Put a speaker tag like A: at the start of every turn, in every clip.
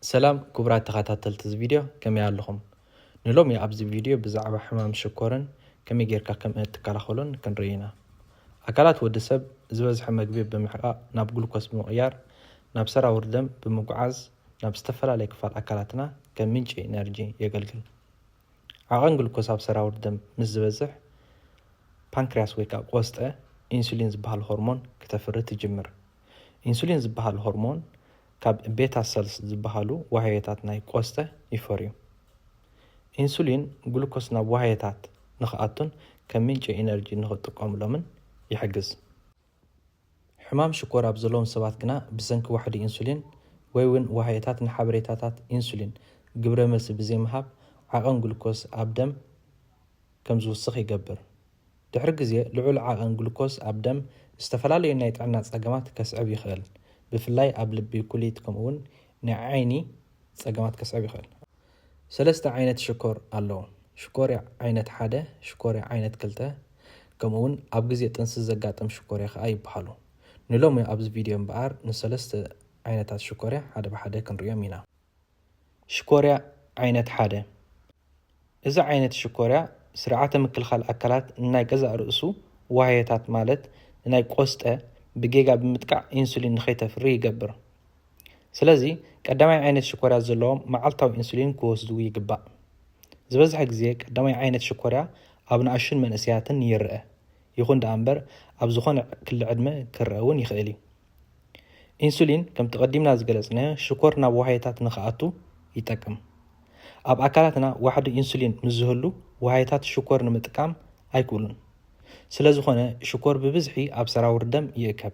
A: ሰላም ክቡራት ተኸታተልቲ እዚ ቪድዮ ከመይ ኣለኹም? ንሎሚ ኣብዚ ቪድዮ ብዛዕባ ሕማም ሽኮርን ከመይ ጌርካ ከም እትከላኸሎን ክንርኢ ኢና። ኣካላት ወዲ ሰብ ዝበዝሐ መግቢ ብምሕቃቕ ናብ ግሉኮስ ብምቕያር ናብ ሰራውር ደም ብምጉዓዝ ናብ ዝተፈላለየ ክፋል ኣካላትና ከም ምንጪ ኢነርጂ የገልግል። ዓቐን ግሉኮስ ኣብ ሰራውር ደም ምስ ዝበዝሕ ፓንክርያስ ወይ ከዓ ቆስጠ ኢንሱሊን ዝበሃል ሆርሞን ክተፍሪ ትጅምር። ኢንሱሊን ዝበሃል ሆርሞን ካብ ቤታ ሰልስ ዝበሃሉ ዋህዮታት ናይ ቆስጠ ይፈርዩ። ኢንሱሊን ግሉኮስ ናብ ዋህዮታት ንኽኣቱን ከም ምንጪ ኢነርጂ ንኽጥቀሙሎምን ይሕግዝ። ሕማም ሽኮር ኣብ ዘለዎም ሰባት ግና ብሰንኪ ዋሕዲ ኢንሱሊን ወይ'ውን ዋህዮታት ንሓበሬታታት ኢንሱሊን ግብረ መልሲ ብዘይምሃብ ዓቐን ግሉኮስ ኣብ ደም ከም ዝውስኽ ይገብር። ድሕሪ ግዜ ልዑል ዓቐን ግሉኮስ ኣብ ደም ዝተፈላለዩ ናይ ጥዕና ጸገማት ከስዕብ ይኽእል፣ ብፍላይ ኣብ ልቢ፣ ኩሊት ከምኡ'ውን ናይ ዓይኒ ጸገማት ከስዕብ ይኽእል። ሰለስተ ዓይነት ሽኮር ኣለዉ፣ ሽኮርያ ዓይነት ሓደ፣ ሽኮርያ ዓይነት ክልተ፣ ከምኡ'ውን ኣብ ግዜ ጥንሲ ዘጋጥም ሽኮርያ ከኣ ይበሃሉ። ንሎሚ ኣብዚ ቪድዮ እምበኣር ንሰለስተ ዓይነታት ሽኮርያ ሓደ ብሓደ ክንርእዮም ኢና። ሽኮርያ ዓይነት ሓደ፣ እዚ ዓይነት ሽኮርያ ስርዓተ ምክልኻል ኣካላት ንናይ ገዛእ ርእሱ ዋህዮታት ማለት ንናይ ቆስጠ ብጌጋ ብምጥቃዕ ኢንሱሊን ንኸይተፍሪ ይገብር። ስለዚ ቀዳማይ ዓይነት ሽኮርያ ዘለዎም መዓልታዊ ኢንሱሊን ክወስዱ ይግባእ። ዝበዝሐ ግዜ ቀዳማይ ዓይነት ሽኮርያ ኣብ ንኣሽቱን መንእሰያትን ይርኣ፣ ይኹን ደኣ እምበር ኣብ ዝኾነ ክሊ ዕድመ ክርኣ እውን ይኽእል እዩ። ኢንሱሊን ከምቲ ቀዲምና ዝገለጽናዮ ሽኮር ናብ ዋህዮታት ንኽኣቱ ይጠቅም። ኣብ ኣካላትና ዋሕዲ ኢንሱሊን ምስ ዝህሉ ዋህዮታት ሽኮር ንምጥቃም ኣይክእሉን። ስለ ዝኾነ ሽኮር ብብዝሒ ኣብ ሰራውር ደም ይእከብ።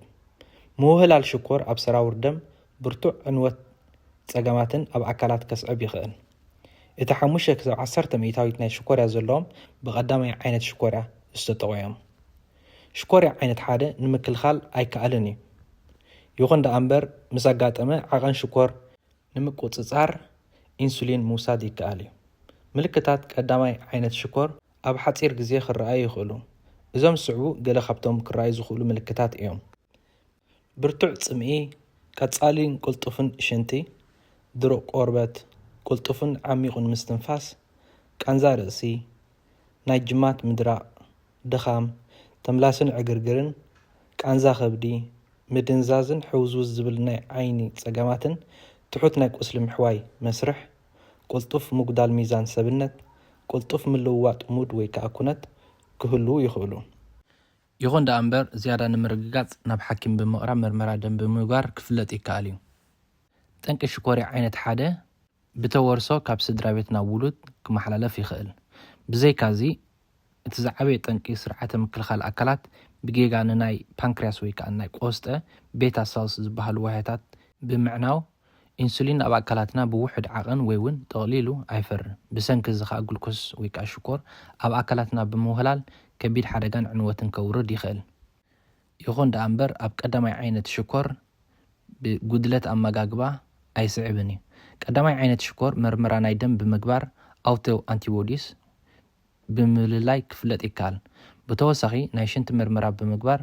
A: ምውህላል ሽኮር ኣብ ሰራውር ደም ብርቱዕ ዕንወት ጸገማትን ኣብ ኣካላት ከስዕብ ይኽእል። እቲ ሓሙሽተ ክሳብ ዓሰርተ ሚእታዊት ናይ ሽኮርያ ዘለዎም ብቀዳማይ ዓይነት ሽኮርያ ዝተጠቑ እዮም። ሽኮርያ ዓይነት ሓደ ንምክልኻል ኣይከኣልን እዩ። ይኹን ደኣ እምበር ምስ ኣጋጠመ ዓቐን ሽኮር ንምቁጽጻር ኢንሱሊን ምውሳድ ይከኣል እዩ። ምልክታት ቀዳማይ ዓይነት ሽኮር ኣብ ሓጺር ግዜ ክረኣዩ ይኽእሉ። እዞም ዝስዕቡ ገለ ካብቶም ክረኣዩ ዝኽእሉ ምልክታት እዮም። ብርቱዕ ጽምኢ፣ ቀጻሊን ቅልጡፍን ሽንቲ፣ ድሩቕ ቆርበት፣ ቅልጡፍን ዓሚቝን ምስትንፋስ፣ ቃንዛ ርእሲ፣ ናይ ጅማት ምድራቕ፣ ድኻም፣ ተምላስን ዕግርግርን፣ ቃንዛ ከብዲ፣ ምድንዛዝን ሕውዝውዝ ዝብል ናይ ዓይኒ ጸገማትን ትሑት ናይ ቁስሊ ምሕዋይ መስርሕ፣ ቅልጡፍ ምጉዳል ሚዛን ሰብነት፣ ቅልጡፍ ምልውዋጥ ሙድ ወይ ከኣ ኩነት ክህልዉ ይኽእሉ። ይኹን ደኣ እምበር ዝያዳ ንምርግጋጽ ናብ ሓኪም ብምቕራብ ምርመራ ደም ብምግባር ክፍለጥ ይከኣል እዩ። ጠንቂ ሽኮርያ ዓይነት ሓደ ብተወርሶ ካብ ስድራቤት ናብ ውሉድ ክመሓላለፍ ይኽእል። ብዘይካዚ እቲ ዝዓበየ ጠንቂ ስርዓተ ምክልኻል ኣካላት ብጌጋ ንናይ ፓንክርያስ ወይከኣ ናይ ቆስጠ ቤታ ሰልስ ዝበሃሉ ዋህያታት ብምዕናው ኢንሱሊን ኣብ ኣካላትና ብውሑድ ዓቐን ወይ ውን ጠቕሊሉ ኣይፈርን። ብሰንኪ እዚ ከኣ ግሉኮስ ወይ ከኣ ሽኮር ኣብ ኣካላትና ብምውህላል ከቢድ ሓደጋን ዕንወትን ከውርድ ይኽእል። ይኹን ደኣ እምበር ኣብ ቀዳማይ ዓይነት ሽኮር ብ ጉድለት ኣመጋግባ ኣይስዕብን እዩ። ቀዳማይ ዓይነት ሽኮር መርመራ ናይ ደም ብምግባር ኣውቶ ኣንቲቦዲስ፣ ብምልላይ ክፍለጥ ይከኣል። ብተወሳኺ ናይ ሽንቲ ምርመራ ብምግባር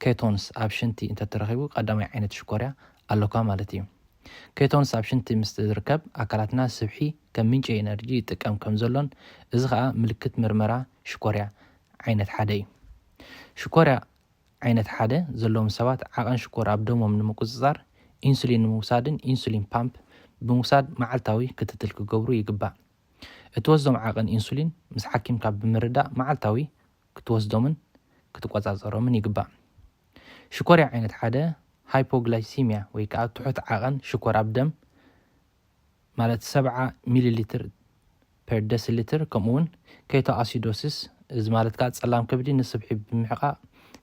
A: ኬቶንስ ኣብ ሽንቲ እንተተረኺቡ ቀዳማይ ዓይነት ሽኮርያ ኣሎካ ማለት እዩ። ኬቶንስ ኣብ ሽንቲ ምስ ዝርከብ ኣካላትና ስብሒ ከም ምንጪ ኤነርጂ ይጥቀም ከም ዘሎን እዚ ከኣ ምልክት ምርመራ ሽኮርያ ዓይነት ሓደ እዩ። ሽኮርያ ዓይነት ሓደ ዘለዎም ሰባት ዓቐን ሽኮር ኣብ ደሞም ንምቁጽጻር ኢንሱሊን ንምውሳድን ኢንሱሊን ፓምፕ ብምውሳድ መዓልታዊ ክትትል ክገብሩ ይግባእ። እትወስዶም ዓቐን ኢንሱሊን ምስ ሓኪምካ ብምርዳእ መዓልታዊ ክትወስዶምን ክትቆጻጸሮምን ይግባእ። ሽኮርያ ዓይነት ሓደ፣ ሃይፖግላይሲሚያ፣ ወይ ከኣ ትሑት ዓቐን ሽኮር ኣብ ደም፣ ማለት ሰብዓ ሚሊሊትር ፐር ደሲሊትር፣ ከምኡ'ውን ኬቶኣሲዶሲስ፣ እዚ ማለት ከኣ ጸላም ከብዲ ንስብሒ ብምሕቃቕ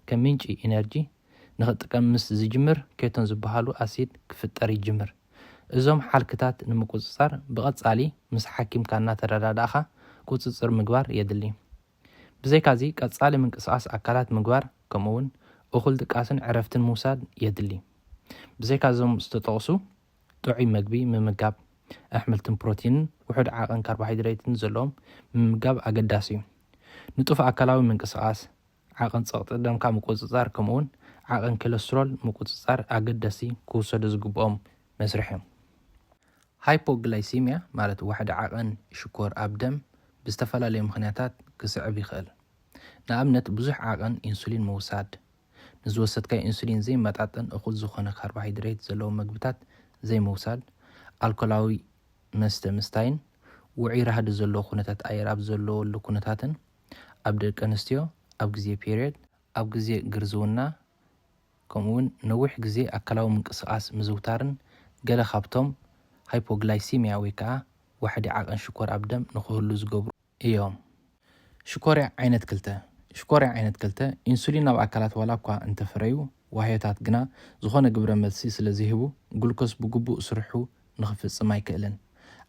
A: ከም ምንጪ ኢነርጂ ንክጥቀም ምስ ዝጅምር ኬቶን ዝበሃሉ ኣሲድ ክፍጠር ይጅምር። እዞም ሓልክታት ንምቁጽጻር ብቐጻሊ ምስ ሓኪምካ እናተረዳዳእኻ ቁጽጽር ምግባር የድሊ። ብዘይካዚ ቀጻሊ ምንቅስቓስ ኣካላት ምግባር ከምኡውን እኹል ድቃስን ዕረፍትን ምውሳድ የድሊ። ብዘይካ እዞም ዝተጠቕሱ ጥዑይ መግቢ ምምጋብ፣ ኣሕምልትን ፕሮቲንን ውሑድ ዓቐን ካርቦሃይድሬትን ዘለዎም ምምጋብ ኣገዳሲ እዩ። ንጡፍ ኣካላዊ ምንቅስቓስ፣ ዓቕን ጸቕጢ ደምካ ምቁጽጻር ከምኡውን ዓቕን ክለስትሮል ምቁጽጻር ኣገደስቲ ክውሰዱ ዝግብኦም መስርሕ እዮም። ሃይፖግላይሲሚያ ማለት ዋሕዲ ዓቐን ሽኮር ኣብ ደም ብዝተፈላለዩ ምኽንያታት ክስዕብ ይኽእል። ንኣብነት ብዙሕ ዓቐን ኢንሱሊን ምውሳድ፣ ንዝወሰድካዮ ኢንሱሊን ዘይመጣጠን እኹል ዝኾነ ካርቦሃይድሬት ዘለዎም መግብታት ዘይምውሳድ፣ ኣልኮላዊ መስተ ምስታይን ውዑይ ራህዲ ዘለዎ ኩነታት ኣየር ኣብ ዘለወሉ ኩነታትን፣ ኣብ ደቂ ኣንስትዮ ኣብ ግዜ ፔርዮድ፣ ኣብ ግዜ ግርዝውና ከምኡ'ውን ነዊሕ ግዜ ኣካላዊ ምንቅስቓስ ምዝውታርን ገለ ካብቶም ሃይፖግላይሲምያ ወይ ከኣ ዋሕዲ ዓቐን ሽኮር ኣብ ደም ንኽህሉ ዝገብሩ እዮም። ሽኮርያ ዓይነት ክልተ፣ ሽኮርያ ዓይነት ክልተ፣ ኢንሱሊን ኣብ ኣካላት ዋላ እኳ እንተፍረዩ፣ ዋህዮታት ግና ዝኾነ ግብረ መልሲ ስለ ዘይህቡ፣ ግሉኮስ ብግቡእ ስርሑ ንኽፍጽም ኣይክእልን።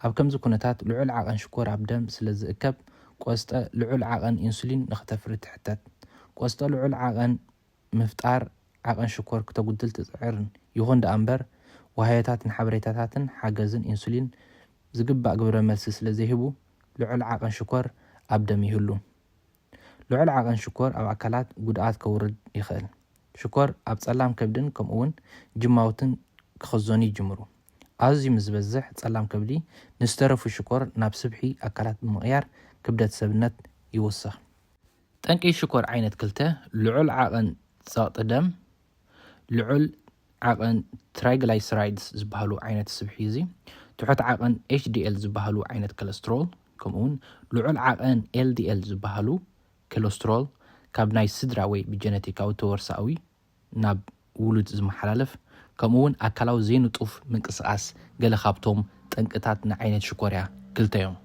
A: ኣብ ከምዚ ኩነታት ልዑል ዓቐን ሽኮር ኣብ ደም ስለ ዝእከብ፣ ቆስጠ ልዑል ዓቐን ኢንሱሊን ንኽተፍሪ ትሕተት። ቆስጠ ልዑል ዓቐን ምፍጣር ዓቐን ሽኮር ክተጉድል ትጽዕርን። ይኹን ደኣ እምበር፣ ዋህዮታት ንሓበሬታታትን ሓገዝን ኢንሱሊን ዝግባእ ግብረ መልሲ ስለ ዘይህቡ፣ ልዑል ዓቐን ሽኮር ኣብ ደም ይህሉ። ልዑል ዓቐን ሽኮር ኣብ ኣካላት ጉድኣት ከውርድ ይኽእል። ሽኮር ኣብ ጸላም ከብድን ከምኡ'ውን ጅማውትን ክኽዘኑ ይጅምሩ። ኣዝዩ ምስ ዝበዝሕ ጸላም ከብዲ ንዝተረፉ ሽኮር ናብ ስብሒ ኣካላት ብምቕያር ክብደት ሰብነት ይውስኽ። ጠንቂ ሽኮር ዓይነት ክልተ፣ ልዑል ዓቐን ጸቕጢ ደም፣ ልዑል ዓቐን ትራይግላይሰራይድስ ዝበሃሉ ዓይነት ስብሒ እዚ፣ ትሑት ዓቐን ኤችዲኤል ዝበሃሉ ዓይነት ከለስትሮል፣ ከምኡውን ልዑል ዓቐን ኤልዲኤል ዝበሃሉ ከለስትሮል ካብ ናይ ስድራ ወይ ብጀነቲካዊ ተወርሳኣዊ ናብ ውሉድ ዝመሓላለፍ፣ ከምኡውን ኣካላዊ ዘይንጡፍ ምንቅስቓስ ገለ ካብቶም ጠንቅታት ንዓይነት ሽኮርያ ክልተ እዮም።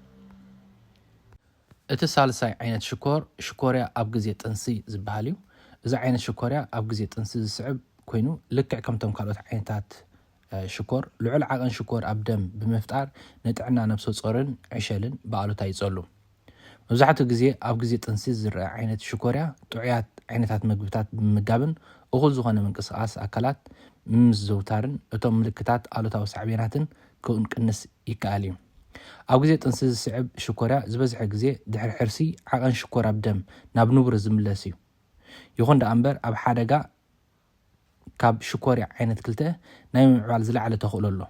A: እቲ ሳልሳይ ዓይነት ሽኮር ሽኮርያ ኣብ ግዜ ጥንሲ ዝበሃል እዩ። እዚ ዓይነት ሽኮርያ ኣብ ግዜ ጥንሲ ዝስዕብ ኮይኑ ልክዕ ከምቶም ካልኦት ዓይነታት ሽኮር ልዑል ዓቐን ሽኮር ኣብ ደም ብምፍጣር ንጥዕና ነብሰጾርን ዕሸልን ብኣሉታ ይጸሉ። መብዛሕትኡ ግዜ ኣብ ግዜ ጥንሲ ዝረኣ ዓይነት ሽኮርያ ጥዑያት ዓይነታት መግብታት ብምምጋብን እኹል ዝኾነ ምንቅስቓስ ኣካላት ብምምዝዘውታርን እቶም ምልክታት ኣሉታዊ ሳዕቤናትን ክቅንስ ይከኣል እዩ። ኣብ ግዜ ጥንሲ ዝስዕብ ሽኮርያ ዝበዝሐ ግዜ ድሕሪ ሕርሲ ዓቐን ሽኮር ኣብ ደም ናብ ንቡር ዝምለስ እዩ። ይኹን ደኣ እምበር ኣብ ሓደጋ ካብ ሽኮርያ ዓይነት ክልተ ናይ ምምዕባል ዝለዓለ ተኽእሎ ኣሎ።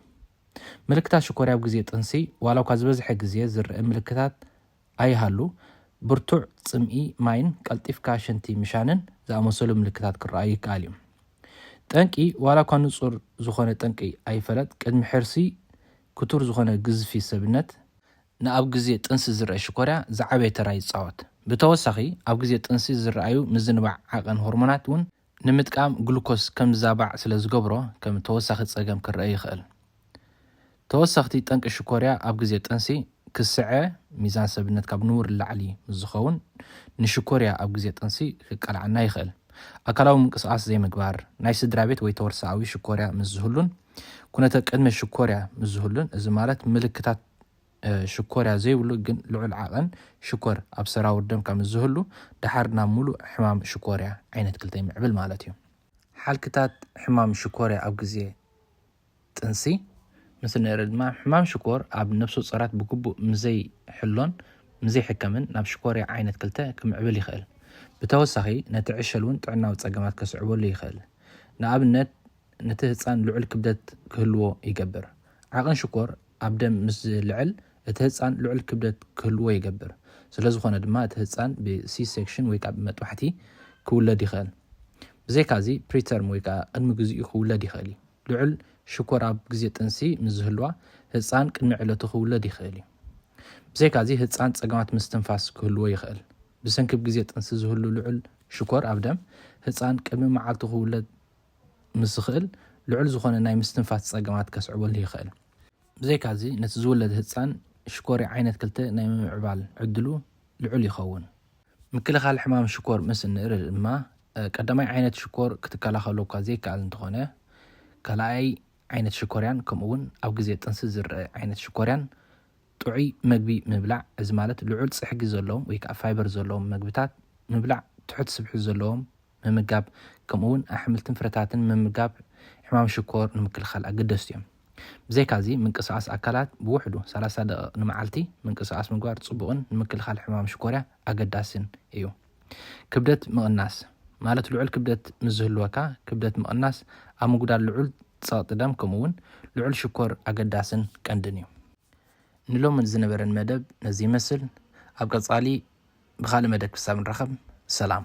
A: ምልክታት ሽኮርያ ኣብ ግዜ ጥንሲ ዋላኳ ዝበዝሐ ግዜ ዝርእ ምልክታት ኣይሃሉ፣ ብርቱዕ ጽምኢ ማይን ቀልጢፍካ ሽንቲ ምሻንን ዝኣመሰሉ ምልክታት ክረኣዩ ይከኣል እዩ። ጠንቂ፣ ዋላ እኳ ንጹር ዝኾነ ጠንቂ ኣይፈለጥ፣ ቅድሚ ሕርሲ ክቱር ዝኾነ ግዝፊ ሰብነት፣ ንኣብ ግዜ ጥንሲ ዝረኣ ሽኮርያ ዝዓበየ ተራ ይጻወት፣ ብተወሳኺ ኣብ ግዜ ጥንሲ ዝረኣዩ ምዝንባዕ ዓቐን ሆርሞናት እውን ንምጥቃም ግሉኮስ ከም ዝዛባዕ ስለ ዝገብሮ ከም ተወሳኺ ጸገም ክረኣ ይኽእል። ተወሰኽቲ ጠንቂ ሽኮርያ ኣብ ግዜ ጥንሲ ክስዐ፣ ሚዛን ሰብነት ካብ ንቡር ንላዕሊ ምስ ዝኸውን ንሽኮርያ ኣብ ግዜ ጥንሲ ክቃልዓና ይኽእል። ኣካላዊ ምንቅስቓስ ዘይምግባር፣ ናይ ስድራቤት ወይ ተወርሶኣዊ ሽኮርያ ምስ ዝህሉን ኩነተ ቅድመ ሽኮርያ ምስ ዝህሉን እዚ ማለት ምልክታት ሽኮርያ ዘይብሉ ግን ልዑል ዓቐን ሽኮር ኣብ ሰራውር ደም ከምዝህሉ ደሓር ናብ ምሉእ ሕማም ሽኮርያ ዓይነት ክልተ ይምዕብል ማለት እዩ። ሓልክታት ሕማም ሽኮርያ ኣብ ግዜ ጥንሲ ምስ ንርኢ ድማ ሕማም ሽኮር ኣብ ነብሰጾራት ብግቡእ ምስዘይሕሎን ምስዘይሕከምን ናብ ሽኮርያ ዓይነት ክልተ ክምዕብል ይኽእል። ብተወሳኺ ነቲ ዕሸል እውን ጥዕናዊ ጸገማት ከስዕበሉ ይኽእል። ንኣብነት ነቲ ህጻን ልዑል ክብደት ክህልዎ ይገብር። ዓቕን ሽኮር ኣብ ደም ምስ ዝልዕል እቲ ህጻን ልዑል ክብደት ክህልዎ ይገብር። ስለዝኾነ ድማ እቲ ህጻን ብ C-section ወይ ከኣ ብመጥባሕቲ ክውለድ ይኸእል። ብዘይካዚ ፕሪተርም ወይ ከኣ ቅድሚ ግዚኡ ክውለድ ይኸእል እዩ። ልዑል ሽኮር ኣብ ግዜ ጥንሲ ምስ ዝህልዋ ህጻን ቅድሚ ዕለቱ ክውለድ ይኸእል እዩ። ብዘይካዚ ህጻን ጸገማት ምስትንፋስ ክህልዎ ይኸእል። ብሰንኪ ብ ግዜ ጥንሲ ዝህሉ ልዑል ሽኮር ኣብ ደም ህጻን ቅድሚ መዓልቱ ክውለድ ምስ ዝኽእል ልዑል ዝኾነ ናይ ምስትንፋስ ጸገማት ከስዕበሉ ይኽእል። ብዘይካዚ ነቲ ዝውለድ ህጻን ሽኮርያ ዓይነት ክልተ ናይ ምምዕባል ዕድሉ ልዑል ይኸውን። ምክልኻል ሕማም ሽኮር ምስ እንርኢ ድማ ቀዳማይ ዓይነት ሽኮር ክትከላኸሎ እኳ ዘይከኣል እንተኾነ ካልኣይ ዓይነት ሽኮርያን ከምኡ'ውን ኣብ ግዜ ጥንሲ ዝረኣ ዓይነት ሽኮርያን ጥዑይ መግቢ ምብላዕ እዚ ማለት ልዑል ጽሕጊ ዘለዎም ወይ ከኣ ፋይበር ዘለዎም መግብታት ምብላዕ ትሑት ስብሒ ዘለዎም ምምጋብ ከምኡ እውን ኣሕምልትን ፍረታትን ምምጋብ ሕማም ሽኮር ንምክልኻል ኣገደስቲ እዮም። ብዘይካዚ ምንቅስቓስ ኣካላት ብውሕዱ ሰላሳ ደቒቕ ንመዓልቲ ምንቅስቓስ ምግባር ፅቡቕን ንምክልኻል ሕማም ሽኮርያ ኣገዳስን እዩ። ክብደት ምቕናስ ማለት ልዑል ክብደት ምስ ዝህልወካ ክብደት ምቕናስ ኣብ ምጉዳል ልዑል ፀቕጢ ደም ከምኡ እውን ልዑል ሽኮር ኣገዳስን ቀንድን እዩ። ንሎሚ ዝነበረን መደብ ነዚ ይመስል። ኣብ ቀፃሊ ብኻልእ መደብ ክሳብ ንራኸብ ሰላም።